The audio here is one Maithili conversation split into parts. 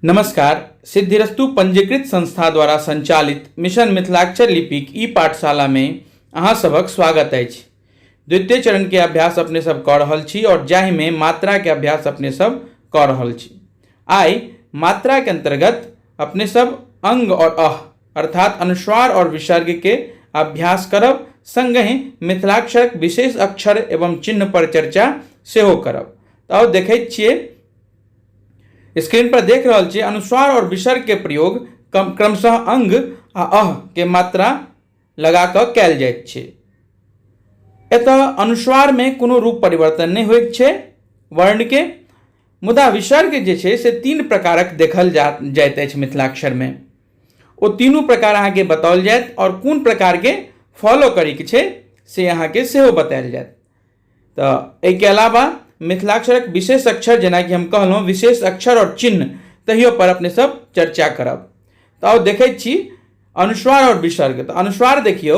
नमस्कार सिद्धिरस्तु पंजीकृत संस्था द्वारा संचालित मिशन मिथिलाक्षर लिपिक ई पाठशाला में अहाँ सभक स्वागत अछि द्वितीय चरण के अभ्यास अपने सब कऽ रहल छी और जाहि में मात्रा के अभ्यास अपने सब कऽ रहल छी आइ मात्रा के अंतर्गत अपने सब अंग और अह अर्थात अनुस्वार और विसर्ग के अभ्यास करब संगहि मिथिलाक्षरक विशेष अक्षर एवं चिन्ह पर चर्चा सेहो करब तऽ देखैत छियै स्क्रीन पर देख रहल छियै अनुस्वार और विसर्ग के प्रयोग क्रमशः अंग आ अह के मात्रा लगा कऽ कयल जाइत छै एतय अनुस्वार में कोनो रूप परिवर्तन नहि होइत छै वर्ण के मुदा विसर्ग जे छै से तीन प्रकारक देखल जा जाइत अछि मिथिलाक्षर में ओ तीनू प्रकार अहाँके बताओल जायत आओर कोन प्रकारके फॉलो करैके छै से अहाँके सेहो बतायल जायत तऽ एहिके अलावा मिथिलाक्षरक विशेष अक्षर जेनाकि हम कहलहुँ विशेष अक्षर आओर चिन्ह तहियो पर अपने सब चर्चा करब तऽ आउ देखैत छी अनुस्वार आओर विसर्ग तऽ अनुस्वार देखियौ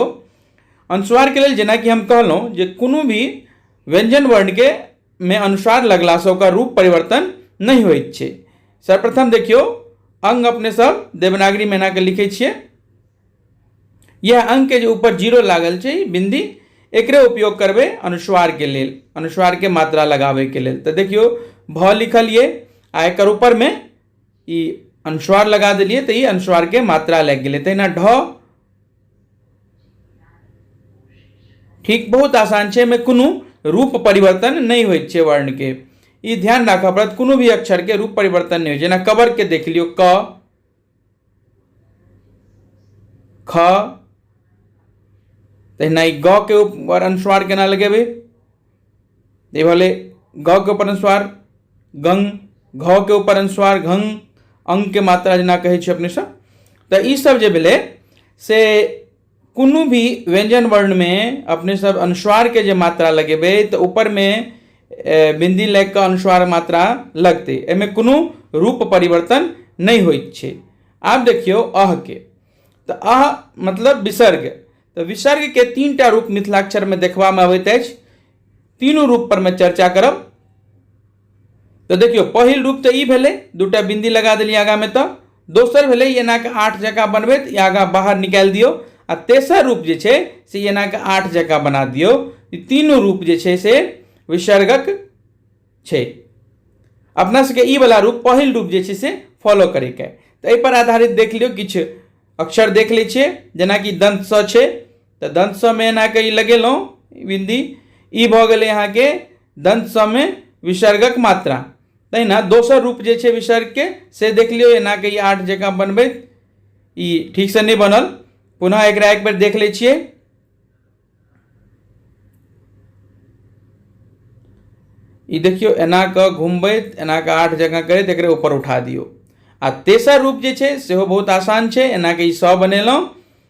अनुस्वारके लेल जेनाकि हम कहलहुँ जे कोनो भी व्यञ्जन वर्णके मे अनुस्वार लगलासँ ओकर रूप परिवर्तन नहि होइत छै सर्वप्रथम देखियौ अङ्ग अपने सब देवनागरीमे एनाके लिखैत छियै यह अंग के जे ऊपर जीरो लागल छै बिंदी एकरे उपयोग करबे अनुस्वार के लेल अनुस्वार के मात्रा लगाबे के लेल तो देखियो भ लिखल ये आ एक ऊपर में ई अनुस्वार लगा दिलिए तो ये अनुस्वार के मात्रा लग गए तहिना ढ ठीक बहुत आसान है में कोनो रूप परिवर्तन नहीं हो वर्ण के ये ध्यान राख पड़त कोनो भी अक्षर के रूप परिवर्तन नहीं हो जेना कबर के देख लियो क ख तहिना ई ग के ऊपर अनुस्वार केना लगेबै ई भेलै ग के ऊपर अनुस्वार गंग घ के ऊपर अनुस्वार घंग अंग के मात्रा जेना कहै छै अपने सब तऽ ई सब जे भेलै से कोनो भी व्यञ्जन वर्णमे अपने सब अनुस्वारके जे मात्रा लगेबै तऽ उपरमे बिन्दी लागि कऽ अनुस्वार मात्रा लगतै एहिमे कोनो रूप परिवर्तन नहि होइत छै आब देखियौ 'अ' के तऽ 'अ' मतलब विसर्ग तऽ विसर्गके तीन टा रूप मिथिलाक्षरमे देखबामे अबैत अछि तीनू रूपपर मे चर्चा करब तऽ देखियौ पहिल रूप तऽ ई भेलै दूटा बिन्दी लगा देलियै आगाँमे तऽ दोसर भेलै एनाके आठ जकाँ बनबैत ई आगाँ बाहर निकालि दियौ आ तेसर रूप जे छै से एनाके आठ जकाँ बना दियौ ई तीनू रूप जे छै से विसर्गक छै अपना सबके ई वाला रूप पहिल रूप जे छै से फॉलो करैके तऽ एहिपर आधारित देख लियौ किछु अक्षर देख लै छियै जेनाकि दन्तसँ छै तऽ दन्त समे एनाके ई लगेलहुँ बिन्दी ई भऽ गेलै अहाँके दन्त समे विसर्गक मात्रा तहिना दोसर रूप जे छै विसर्गके से देख लियौ एनाके ई आठ जकाँ बनबैत ई ठीकसँ नहि बनल पुनः एकरा एक बेर देख लै छियै ई देखियौ एना कऽ घुमबैत एना कऽ आठ जकाँ करैत एकरे ऊपर उठा दियौ आ तेसर रूप जे छै सेहो बहुत आसान छै एनाके ई सए बनेलहुँ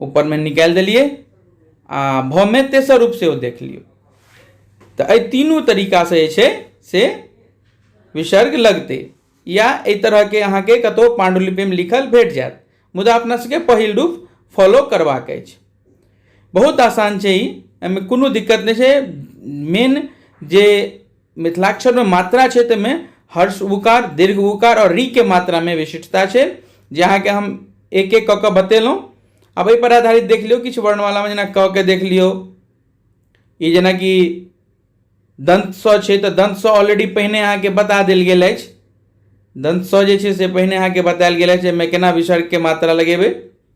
ऊपरमे निकालि देलियै आ भमे तेसर रूप सेहो देख लियौ तऽ एहि तीनू तरीकासँ जे छै से विसर्ग लगतै या एहि तरहके अहाँके कतहु पाण्डुलिपिमे लिखल भेट जायत मुदा अपना सबके पहिल रूप फॉलो करबाक अछि बहुत आसान छै ई एहिमे कोनो दिक्कत नहि छै मेन जे मिथिलाक्षरमे मात्रा छै ताहिमे हर्ष उकार दीर्घ उकार आओर रीके मात्रामे विशिष्टता छै जे अहाँके हम एक एक कऽ कऽ बतेलहुँ आब एहिपर आधारित देख लियौ किछु वर्णमालामे जेना क के देख लियौ ई जेनाकि दन्त स छै तऽ दन्त स ऑलरेडी पहिने अहाँके बता देल गेल अछि दन्त स जे छै से पहिने अहाँके बतायल गेल अछि एहिमे केना विसर्गके मात्रा लगेबै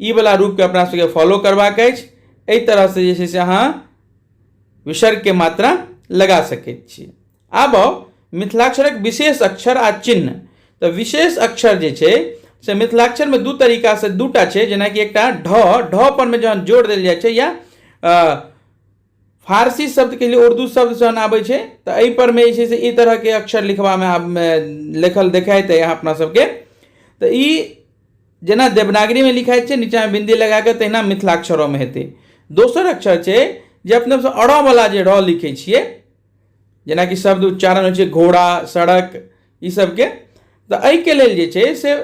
ई वाला रूपके अपना सबके फॉलो करबाक अछि एहि तरहसँ जे छै से अहाँ विसर्गके मात्रा लगा सकैत छी आब आउ मिथिलाक्षरक विशेष अक्षर आ चिन्ह तऽ विशेष अक्षर जे छै से मिथिलाक्षरमे दू तरीकासँ दूटा छै जेनाकि एकटा ढ ढ परमे जहन जोर देल जाइ छै या अ, फारसी शब्दके लिए उर्दू शब्द जहन आबै छै तऽ एहिपरमे जे छै से ई तरहके अक्षर लिखबामे आब लिखल देखाइत अइ अहाँ अपना सबके तऽ ई जेना देवनागरीमे लिखाइत छै नीचाँमे बिन्दी लगा कऽ तहिना मिथिलाक्षरोमे हेतै दोसर अक्षर छै जे अपना सब अ वला जे र लिखै छियै जेनाकि शब्द उच्चारण होइ छै घोड़ा सड़क ई सबके तऽ एहिके लेल जे छै से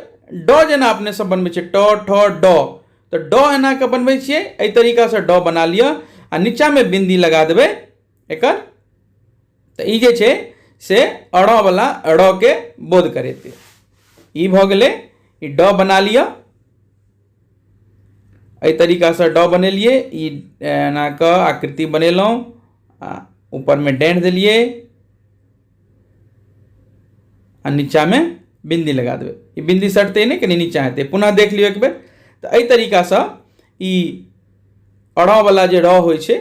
ड जेना अपने सब बनबै छियै ट ठ ड तऽ ड एना कऽ बनबै छियै एहि तरीकासँ ड बना लिअ आ नीचाँमे बिन्दी लगा देबै एकर तऽ ई जे छै से अड़ वला ड़ के बोध करेतै ई भऽ गेलै ई ड बना लिअ एहि तरीकासँ ड बनेलियै ई एना कऽ आकृति बनेलहुँ आ ऊपरमे डेंट देलियै आ नीचामे बिन्दी लगा देबै ई बिन्दी सटतै नहि कनि नीचा हेतै पुनः देख लियौ एक बेर तऽ एहि तरीकासँ ई अड़ावला जे रॉ होइ छै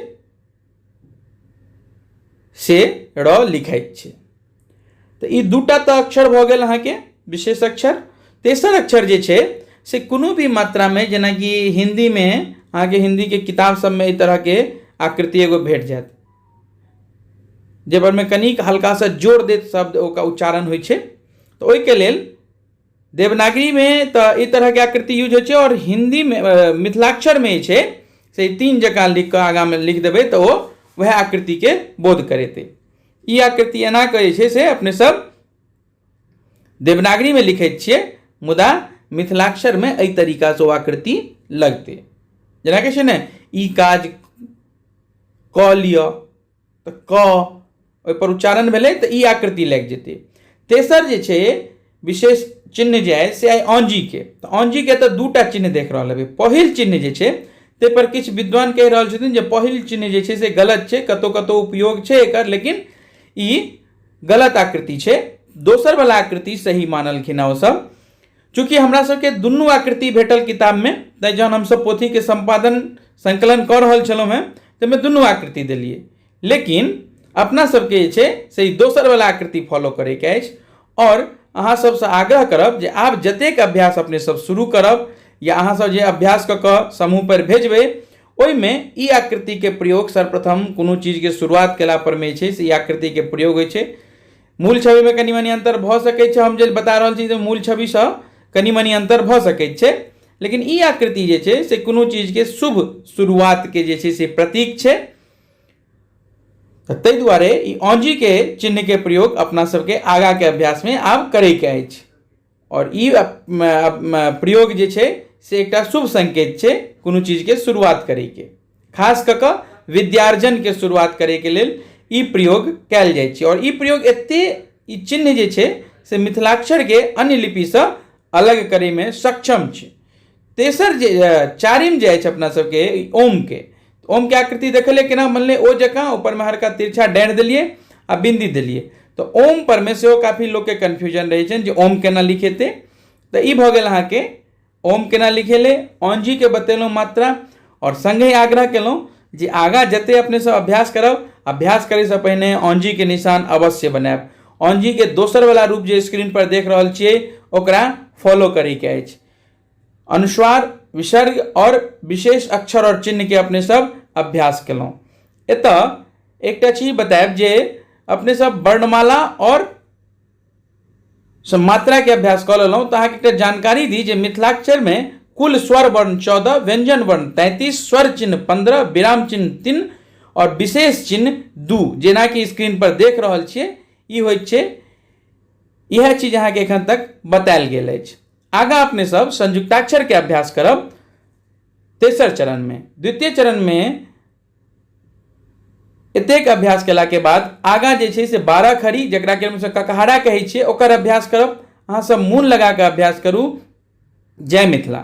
से रॉ लिखाइत छै तऽ ई दूटा तऽ अक्षर भऽ गेल अहाँके विशेष अक्षर तेसर अक्षर जे छै से कोनो भी मात्रामे जेनाकि हिन्दीमे अहाँके हिन्दीके किताब सभमे एहि तरहके आकृति एगो भेट जायत जाहिपरमे कनिक हल्कासँ जोर देत शब्द ओकर उच्चारण होइ छै तऽ ओहिके लेल देवनागरीमे तऽ ई तरहके आकृति यूज होइ छै आओर हिन्दीमे मिथिलाक्षरमे जे छै से तीन जकाँ लिखि कऽ आगाँमे लिखि देबै तऽ ओ उएह आकृतिके बोध करेतै ई आकृति एना कऽ जे छै से अपनेसभ देवनागरीमे लिखैत छियै मुदा मिथिलाक्षरमे एहि तरीकासँ ओ आकृति लगतै जेना कहै छै ने ई काज कऽ लिअ तऽ क ओहिपर उच्चारण भेलै तऽ ई आकृति लागि जेतै तेसर जे छै विशेष चिन्ह जे अइ से अइ औंजीके तऽ औंजीके तऽ दू टा चिन्ह देख रहल हेबै पहिल चिन्ह जे छै ताहिपर किछु विद्वान कहि रहल छथिन जे पहिल चिन्ह जे छै से गलत छै कतहु कतहु उपयोग छै एकर लेकिन ई गलत आकृति छै दोसर वाला आकृति सही मानलखिन हँ ओसभ चूँकि हमरा सबके दुनू आकृति भेटल किताबमे तैँ जहन हमसभ पोथीके सम्पादन सङ्कलन कऽ रहल छलहुँ हेँ ताहिमे दुनू आकृति देलियै लेकिन अपना सबके जे छै से ई दोसर वाला आकृति फॉलो करैके अछि आओर अहाँ सबसँ आग्रह करब जे आब जतेक अभ्यास अपने सब शुरू करब या अहाँ सब जे अभ्यास कऽ कऽ समूह पर भेजबै ओहिमे ई आकृतिके प्रयोग सर्वप्रथम कोनो चीजके शुरुआत केला परमे छै से ई आकृतिके प्रयोग होइ छै मूल छविमे कनि मनि अन्तर भऽ सकै छै हम जे बता रहल छी जे मूल छविसँ कनि मनि अन्तर भऽ सकै छै लेकिन ई आकृति जे छै से कोनो चीजके शुभ शुरुआतके जे छै से प्रतीक छै ताहि दुआरे ई औंजीके चिन्हके प्रयोग अपना सबके आगाँके अभ्यासमे आब करैके अछि आओर ई प्रयोग जे छै से एकटा शुभ सङ्केत छै कोनो चीजके शुरुआत करैके खास कऽ कऽ विद्यार्जनके शुरुआत करैके लेल ई प्रयोग कयल जाइ छै आओर ई प्रयोग एते ई चिन्ह जे छै से मिथिलाक्षरके अन्य लिपिसँ अलग करैमे सक्षम छै तेसर जे चारिम जे अछि अपना सबके ओमके तऽ ओमके आकृति देखलियै केना बनलै ओ जकाँ ऊपरमे हल्का तिरछा डाँड़ि देलियै आ बिन्दी देलियै तऽ ओम परमे सेहो काफी लोकके कन्फ्यूजन रहै छनि जे ओम केना लिखेतै तऽ ई भऽ गेल अहाँके ओम केना लिखेलै औंजीके बतेलहुँ मात्रा आओर सङ्गहि आग्रह केलहुँ जे आगाँ जते अपने सब अभ्यास करब अभ्यास करैसँ पहिने औंजीके निशान अवश्य बनायब औंजीके दोसरवला रूप जे स्क्रीनपर देख रहल छियै ओकरा फॉलो करैके अछि अनुस्वार विसर्ग और विशेष अक्षर और चिन्ह के अपने सब अभ्यास केलहुँ एतऽ एकटा चीज बतायब जे अपने सब वर्णमाला और मात्रा के अभ्यास कऽ लेलहुँ तऽ अहाँके एकटा जानकारी दी जे मिथिलाक्षर में कुल स्वर वर्ण चौदह व्यंजन वर्ण तैंतीस स्वर चिन्ह पंद्रह विराम चिन्ह तीन और विशेष चिन्ह दू जेना कि स्क्रीन पर देख रहल छियै ई होइत छै इएह चीज अहाँके एखन तक बतायल गेल अछि आगा अपने सब संयुक्ताक्षर के अभ्यास करब तेसर चरण में द्वितीय चरण में एतेक अभ्यास केला के बाद आगा जे छै से बारह खड़ी जकरा के हमसब ककहारा कहै छियै ओकर अभ्यास करब अहाँ सब मोन लगा के अभ्यास करू जय मिथिला